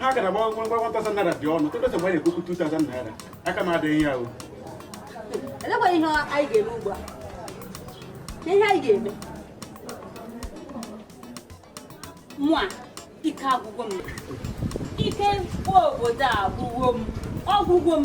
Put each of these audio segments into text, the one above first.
ha gara gba 1000 naira dị ọnụ tọsa mgbe anyị na-ekwukwu 2000 naira aka m adịghị ya o elekwa ihe anyị ga-eme ugbu a na ihe anyị ga-eme mụa ike agwụgo m ike mkpọ obodo a agwụgo m ọ gwụgo m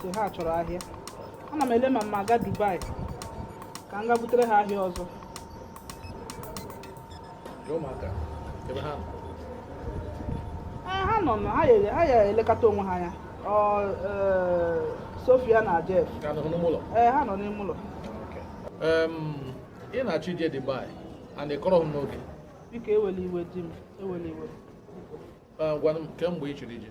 si ha chọrọ ahịa ana m ele ma m ma-aga Dubai ka m ga butere ha ahịa ọzọ ha nọ na ha ya elekọta onwe ha anya e, Sofia na Jeff ee ha nọ n'ime ụlọ ị na-achọ ije Dubai and ị kọrọ m n'oge biko ewela iwe di m ewela iwe gwa m kemgbe ị chọrọ ije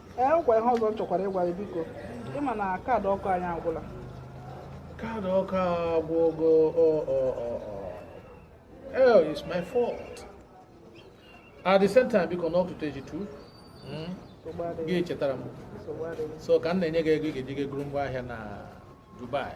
ee nkwa ihe ọzọ m chọkwara ịgwa gị biko ị ma na kaadị ọkụ anyị agwụla kaadị ọkụ agwụgo oh it's my fault at the same time biko n'oke ụtụtụ gị chetara m so ka m na-enye gị ego ị ga-eji ga goro ngwa ahịa na Dubai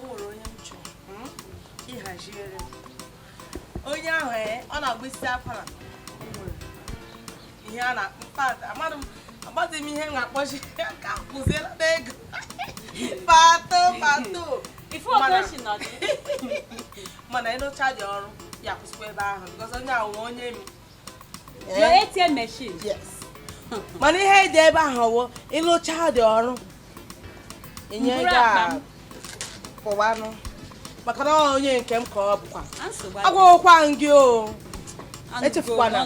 o nwere onye m chọrọ hmm? ịhaziere onye ahụ ee eh, ọ na-agba isi akwara ihe a na-akpụ pata amadị m agbazi m ihe na-akpọchi ka kwụziela m ego pato pato mana ị lụchadị ọrụ ya kwụsịkwa ebe ahụ because onye ahụ onye m your eh? ATM machine yes mana ihe dị ebe ahụ wụ ị lụchadị ọrụ enye gị apụwanụ maka na onye nke m ka ọ bụkwa agwakwa gị o echefukwana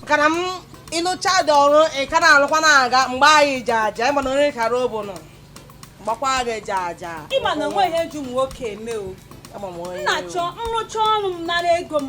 maka na ị lụchadị ọrụ ị ka na-alụkwa na-aga mgbe anyị ji aja ị ma na onye kara obu nọ gbakwa gị ji aja ị ma na o nwe ihe ji ụmụ nwoke eme o m na-achọ nrụcha ọrụ m nara ego m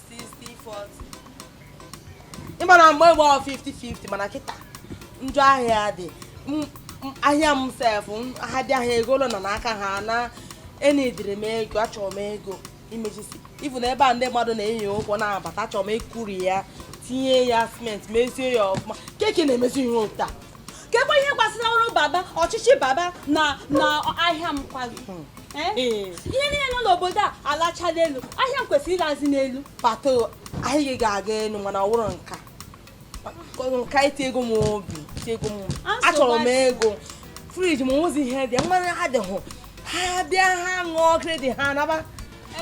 ị ma na mgbe gboo 50-50 mana kịta njọ ahịa dị ahịa m sef ha dị ahịa ego ụlọ nọ n'aka ha na e needịrị m ego achọrọ m ego imechisi ifu na ebe a ndị mmadụ na-enyi ụkwụ na-abata achọrọ m ikuri ya tinye ya cement mezie ya ọfụma keke na-emezi ihe otu a kekwa ihe gbasara ọrụ baba ọchịchị baba na ahịa m kwago hmm. eh? Eh. ihe niile nọ n'obodo a alachala elu ahịa m kwesịrị ịlazi n'elu pato ahịa gị ga-aga elu mana ọ wụrụ nka nka iti ego m obi iti ego m achọrọ m ego fridge m nwezi ihe dị mmanya adịhụ ha bịa ha ṅụọ credit ha naba e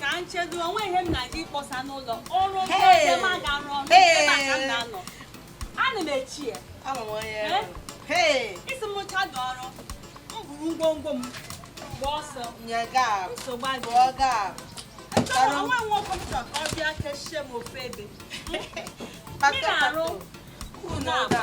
ka m chedo o nwe ihe m na-aga ịkpọsa n'ụlọ ọrụ ndị ma ga-arụ ọrụ ebe a ka m na-anọ ana m echi ya isi m rụcha dị ọrụ m buru ngwongwo m gba ọsọ nsogbu adịghị o nwe nwoke m chọrọ ka ọ bịa kechie m ofe ebe m na-arụ ụlọ agba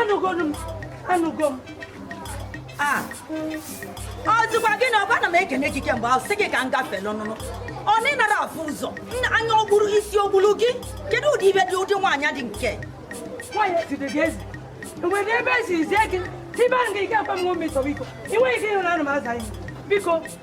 anụgonu m anụgo m a ọ dịkwa gị na ọkwa na m ekene gị kemgbe ahụ sị gị ka m gafee n'ọnụnụ ọ na ị nara afụ ụzọ nna anya o kpuru isi o kpuru gị kedu ụdị ibe dị ụdị nwaanyị dị nke nwaanyị ejide gị ezi e nwere ebe e si zie gị tibe ahụ gị ike akwa m nwe nsogbu biko i nweghị ike ịhụ na anọ m aza ihe biko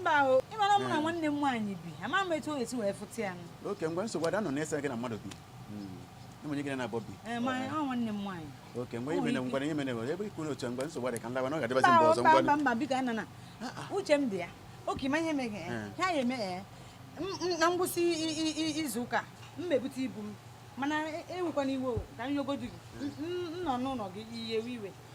mba o ị mara mụ na eh. nwanne m nwaanyị bi ama m etu e si wee fụta ya okay ngwa nsogbu ada nọ na-ese gị na mmadụ bi ụmụnye gị na bọbi okay mgbe ime na ngwara ihe mere nwere ebe ikwu n'otu mgbe nsogbu dị ka nlawa na ọ ga-adịbazi mgbe ọzọ ngwa mba biko ana na uche m dị ya okay ma ihe meghe ha ya eme na ngwụsị izu ụka m mebute ibu m mana ewekwana iwe ka m yọgodu gị m nọ n'ụlọ gị ị ya-ewe iwe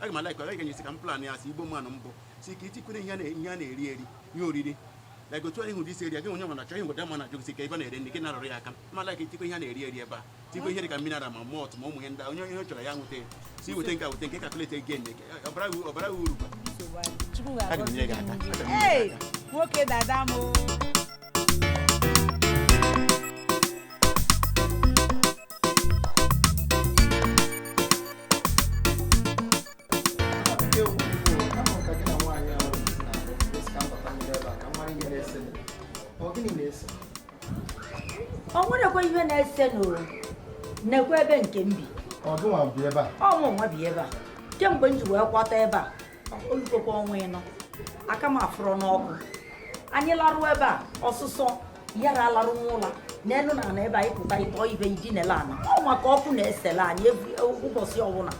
aga m alaikwa aga ga-enyesi ka m plan ya si igbo mmanụ mbụ sị ka e tikwere ihe a na-eri eri ihe oriri like otu anyị hụ dị isi eri gị onye nwere achọ ihe ngwede ma na-ajụ gị ka ebe na-ere nri gị na-arụrụ ya aka ma like itikwa ihe a na-eri eri ebe a tikwa ihe dị ka mineral ma malt ma ụmụ ihe ndị onye ihe chọrọ ya nweta ya si weta nke a weta nke calculate ego enye gị ọ baara gị ọ baara gị uru Chukwu ga-agọzi gị. Aga m nye gị aka. Hey, nwoke dada m o. o nwerekwa ihe na-ese n'ụwa nekwa ebe nke m bi ọ mụ nwa bi ebe a kemgbe m ji wee kwata ebe a o lugokwa ọnwa ịnọ aka m afụrọ n'ọkụ anyị larụ ebe a ọsụsọ yara alarụ n'ụlọ n'elu na ana ebe anyị pụta ịtọ ibe idinele ana ọ maka ọkụ na-esele anyị e, ụbọchị ọbụla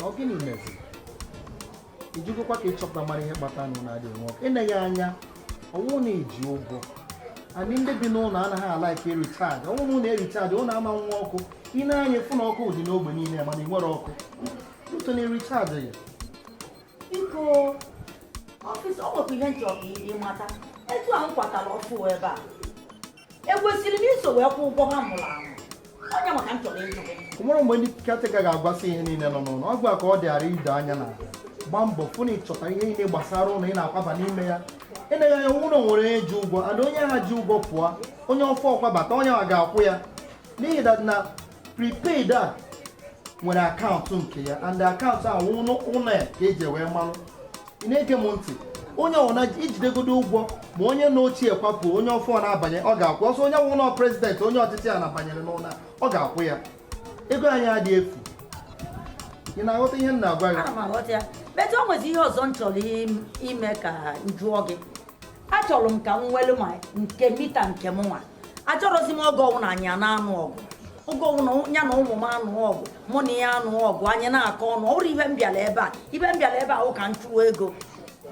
ọ gịnị meziri i jegokwa ka ị chọpụta mara ihe kpata unu na-adịghị enwe ọkụ eneghị anya ọ wụ na e ji ụgwọ and ndị bi n'ụlọ anaghị a-like e-recharge ọ wụ na unu e-recharge unu ama nwe ọkụ i nee anya fụ na ọkụ dị n'ogbe niile mana i nwere ọkụ until na e recharge ya biko ọfịs o nwekwa ihe m chọrọ ịmata etu a m kwatara ọfụụ ebe a ekwesịrị m iso wee kwụọ ụgwọ ha mụrụ amụ onye maka m chọrọ ịjụ gị o nwere mgbe ndị caretaker ga-agwasị ihe niile nọ n'ụlọ ọ gịwa ka ọ dịara ido anya na gbaa mbọ fụ na ị chọta ihe niile gbasara ụlọ ị na-akwaba n'ime ya eleghị anya n'ụlọ o nwere onye ji ụgwọ and onye ahụ ji ụgwọ pụọ onye ọfụụ kwabata onye ahụ ga-akwụ ya n'ihi that na prepaid a nwere akaụntụ nke ya and akaụntụ ahụ ụlọ ya ka e ji wee malụ ị na-ege m ntị onye ọ wụ na e jidegodo ụgwọ ma onye na ochie kwapụ onye ọfụụ na-abanye ọ ga-akwụ ọsọ onye wụrụ prezidentị onye ọchịchị a na-abanyere n'ụlọ ọ ga-akwụ ya ego anyị adị efu ị na-aghọta ihe m na-agwa gị o nwezi ihe ọzọ m chọrọ ime ka m jụọ gị achọrọ m ka m nwelu ma nke mita nke mụnwa achọrọzi m oge ọwụna anyị ana-anụ ọgụ oge ọwụna ya na ụmụ m anụọ ọgụ mụ na ya anụọ ọgụ anyị na-akọ ọnụ ọ bụrọ ihe m bịara ebe a ihe m bịara ebe a wụ ka m chụọ ego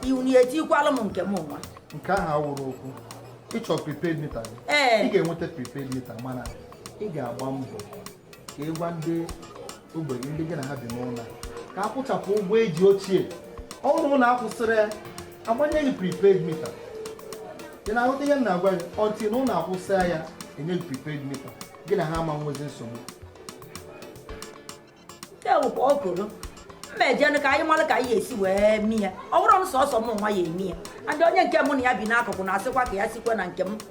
ọ wụ na e tikwala m nke mụnwa nke ahụ awụrọ okwu ị chọọ prepaid mita gị Ee. ị ga-enweta prepaid mita mana ị ga-agba mbọ ka ị gwa ndị ogbenye ndị gị na ha bi n'ụlọ ka a kwụchapụ ụgwọ e ji ochie ọ bụrụ na a kwụsịrị ya agbanye gị prepaid mita ị na-aghọta ihe m na-agwa gị ọ wụ na unu akwụsịa ya e nye gị prepaid mita gị na ha ama nwezi nsogbu ewu ka ọ goro mma ejenụ ka anyị mara ka anyị esi wee mi ya ọ bụrụ na sọsọ mụnwa ya emi ya and onye nke mụ na ya bi n'akụkụ na-asịkwa ka ya sikwe na nke m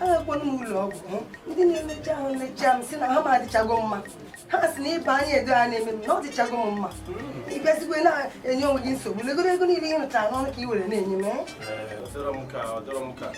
agakwana m ụlọ ọgwụ ndị na-emecha ahụ mecha m sị na ahụ m adịchago mma ha sị na ịba anya edo a na-eme m na ọ dịchago m mma ị bịazikwa na-enye onwe gị nsogbu legoro ego niile ị rụchara n'ọnụ ka ị were na-enye m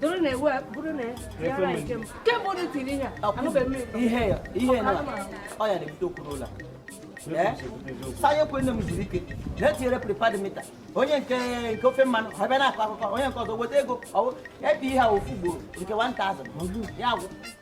doro na ewu bụrụ na ya ara nke m kemgbe unu tiri ihe a anụbeghị m ụtọ ihe ya ihe na ọ ya na-ebute okwu n'ụlọ sanye kwe nne m zuru ike na-etinyere prepaid mita onye nke nke ofe mmanụ ha bịa na-akọ akụkọ onye nke ọzọ weta ego ọ wụ e pịa ihe a ofu ugboro nke 1000 ya gwụ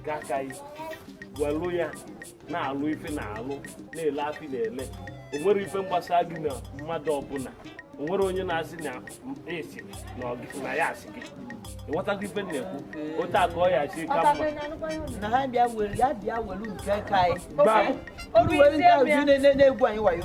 nke aka anyị welụ ya na-alụ ife na-alụ na-ele ife na-ele o nwere ife gbasa gị na mmadụ ọbụla o nwere onye na-asị na esi na ọ gị- na ya asị gị ịghọtago ife m na-ekwu otu a ka ọ ya-esi ka mma na ha bịa were ya bịa were nke ka anyị Ba- Unu were nke ahụ ji na- na- na-egwu anyị wayo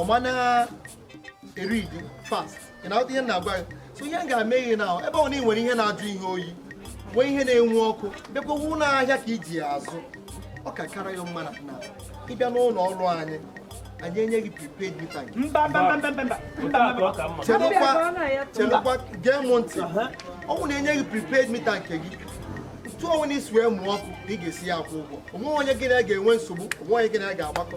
ọma na-eri gị fast ị na-aghọta ihe m na-agwa gị so ihe m ga-eme ihe na ebe ọ na ị nwere ihe na-ajụ ihe oyi nwee ihe na-enwu ọkụ bịakwa wụ na ahịa ka i ji ya azụ ọ ka kara ya mma na ị bịa n'ụlọ ọrụ anyị anyị enye gị prepaid mita gị chelụkwa gee m ntị ọ wụ na e nye gị prepaid mita nke gị otu ọwụna i si wee mụọ ọkụ ka ị ga-esi ya akwụ ụgwọ o nwe onye gị na ya ga-enwe nsogbu o nwe onye gị na ya ga-agbakọ